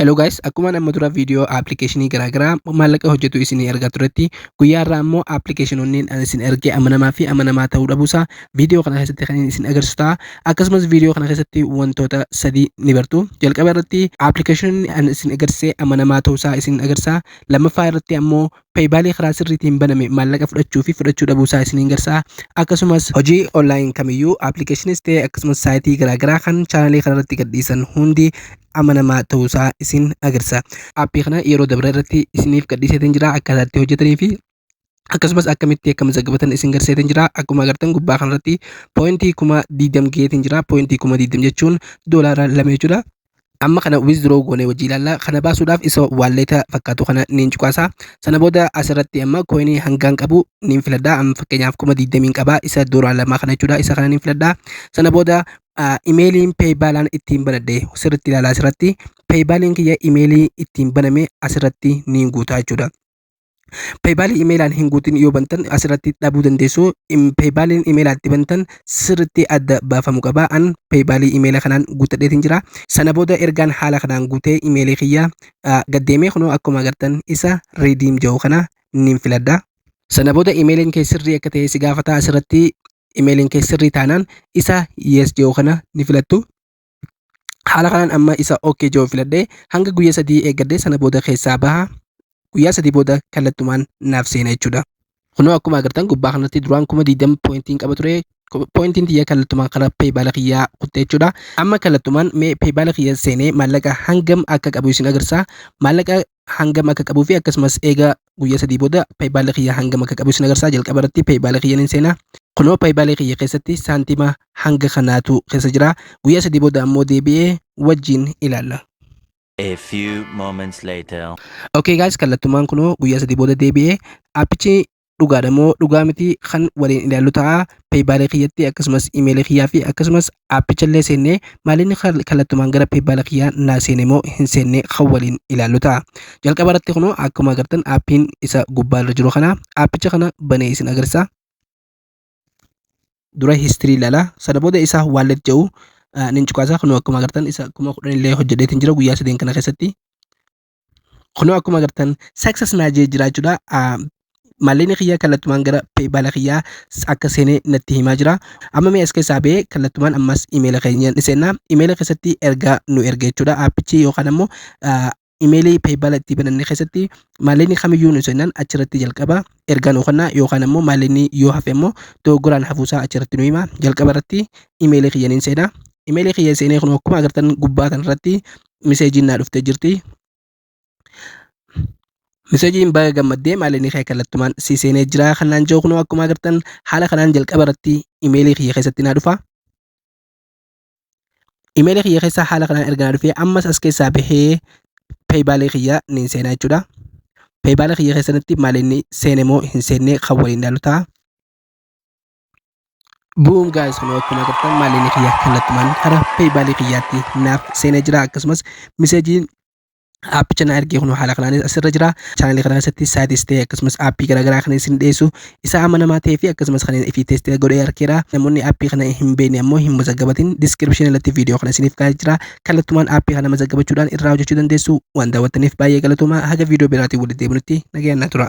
Hello guys, akkuma amma dura viidiyoo appilikeeshinii garaagaraa maallaqa hojjetu isinii ergaa turetti guyyaa irraa immoo appilikeeshinoonni an isin ergee amanamaa fi amanamaa ta'uu dhabuusaa viidiyoo kana keessatti kan isin agarsiisu ta'a. Akkasumas viidiyoo kana keessatti wantoota sadii ni bartu. Jalqaba irratti appilikeeshinoonni an isin agarsiise amanamaa ta'uusaa isin agarsiisa. Lammaffaa irratti ammoo peeybaalii karaa sirriitiin baname maallaqa fudhachuu fi fudhachuu dhabuu isaa isiniin garsaa akkasumas hojii online kamiyyuu appilikeeshiniis ta'e akkasumas saayitii garaagaraa kan chaanalii kana irratti gadhiisan hundi amanamaa ta'uu isaa isin agarsiisa appii kana yeroo dabre irratti isiniif gadhiiseetiin jira akkaataa itti hojjetanii fi akkasumas akkamitti akka mazaggabatan isin garseetiin jira akkuma agartan gubbaa kanarratti poointii kuma 20 geetiin jira poointii kuma 20 jechuun doolaara lama jechuudha amma kana withdraw goone wajjii ilaalla kana baasuudhaaf isa waalleeta fakkaatu kana niin cuqaasa sana booda asirratti amma koinii hangaan qabu niin filadha amma fakkeenyaaf kuma digdamiin qaba isa dooraa lamaa kana jechuudha isa kana niin filadha sana booda imeeliin peeybaalaan ittiin banadhe sirritti ilaalaa asirratti peeybaaliin kiyya imeelii ittiin baname asirratti niin guutaa jechuudha Peepaal imeelaan hin guutin yoo bantan asirratti dhabuu dandeessu. Peepaaliin imeelaa itti bantan sirriitti adda baafamu qaba. An peepaalii imeela kanaan guuttadheetiin jira. Sana booda ergaan haala kanaan guutee imeelii kiyya gaddeemee kunoo akkuma agartan isa riidiim jedhu kana niin filadha. Sana booda imeeliin kee sirrii akka ta'e si gaafata asirratti imeeliin kee sirrii taanaan isa yes jedhu kana ni filattu. haala kanaan amma isa ok jiru filadhee hanga guyyaa sadii eeggadhee sana booda keessaa baha guyyaa sadii booda kallattumaan naaf seena jechuudha. Kunoo akkuma agartan gubbaa kanatti duraan kuma 20 poointiin qaba ture poointiin tiyya kallattumaan karaa peebaala kiyyaa kutte jechuudha. Amma kallattumaan mee peebaala kiyya seenee maallaqa hangam akka qabu isin agarsiisa. Maallaqa hangam akka qabuu fi akkasumas eegaa guyyaa sadii booda paybaala kiyya hangam akka qabu isin agarsiisa jalqaba irratti paybaala kiyya nin seena kunoo paybaala kiyya keessatti saantima hanga kanaatu keessa jira guyyaa sadii booda ammoo deebi'ee wajjiin ilaalla. A few moments later. Okay guys kallattumaan kunoo guyyaa sadii booda deebi'ee appichi dhugaadha moo dhugaa miti kan waliin ilaallu ta'a peeybaalee kiyyatti akkasumas imeelii kiyyaa fi akkasumas aappicha illee seennee maalinni kallattumaan gara peeybaalee kiyyaa naa seene moo hin seenne kan waliin ilaallu ta'a jalqaba irratti kunoo akkuma agartan aappiin isa gubbaa irra jiru kana aappicha kana banee isin agarsiisa dura histirii ilaala sana booda isa waallet jedhu nin cuqaasa kunoo akkuma agartan isa kuma kudhan illee hojjedheetiin jira guyyaa sadeen kana keessatti Kunoo akkuma agartan success naa jee jira jechuudha. Ah, Maallaqni kiyyaa kallattumaan gara PayPal kiyyaa akka seenee natti himaa jira. Amma mee as keessaa ba'ee kallattumaan ammas imeela keenya ni seenna. Imeela keessatti ergaa nu erge jechuudha. Aappichi yookaan ammoo ah, imeelii PayPal itti bananne keessatti maallaqni kamiyyuu nu seenan achirratti jalqaba ergaa nu kenna yookaan ammoo maallaqni yoo hafe ammoo dogoggoraan hafuusaa achirratti nu hima. Jalqaba irratti imeelii kiyya ni seena. Imeelii kiyya seenee kun akkuma agartan gubbaa kanarratti miseejiin naa dhuftee jirti. Miseejiin baga gammaddee maaliin kee kallattumaan si seenee jira kanaan jiru kunoo akkuma agartan haala kanaan jalqaba irratti imeelii kiyya keessatti naa dhufa. Imeelii kiyya keessaa haala kanaan erga naa dhufee ammas as keessaa bahee peeyibaalii kiyya niin seenaa jechuudha. Peeyibaalii kiyya keessatti maaliin seene moo hin seenne kan waliin ilaalu ta'a. Bu'uun gaa'is kunoo akkuma agartan maallaqni kiyya kallattumaan karaa peeyibaalii kiyyaatti naaf seenee jira akkasumas miseejiin aappicha na ergee kunoo haala kanaanis asirra jira chaanalii kana keessatti saayitis ta'e akkasumas aappii garaagaraa kan isin dhiyeessu isaa amanamaa ta'ee fi akkasumas kan ifi teestee godhee harkeera namoonni aappii kana hin beekne ammoo hin mazaggabatin diskiripshinii irratti viidiyoo kana isiniif kaa'ee jira kallattumaan aappii kana mazaggabachuudhaan irraa hojjechuu dandeessu waan daawwattaniif baay'ee galatoomaa haga viidiyoo biraatiin walitti deebinutti nagayaan na tura.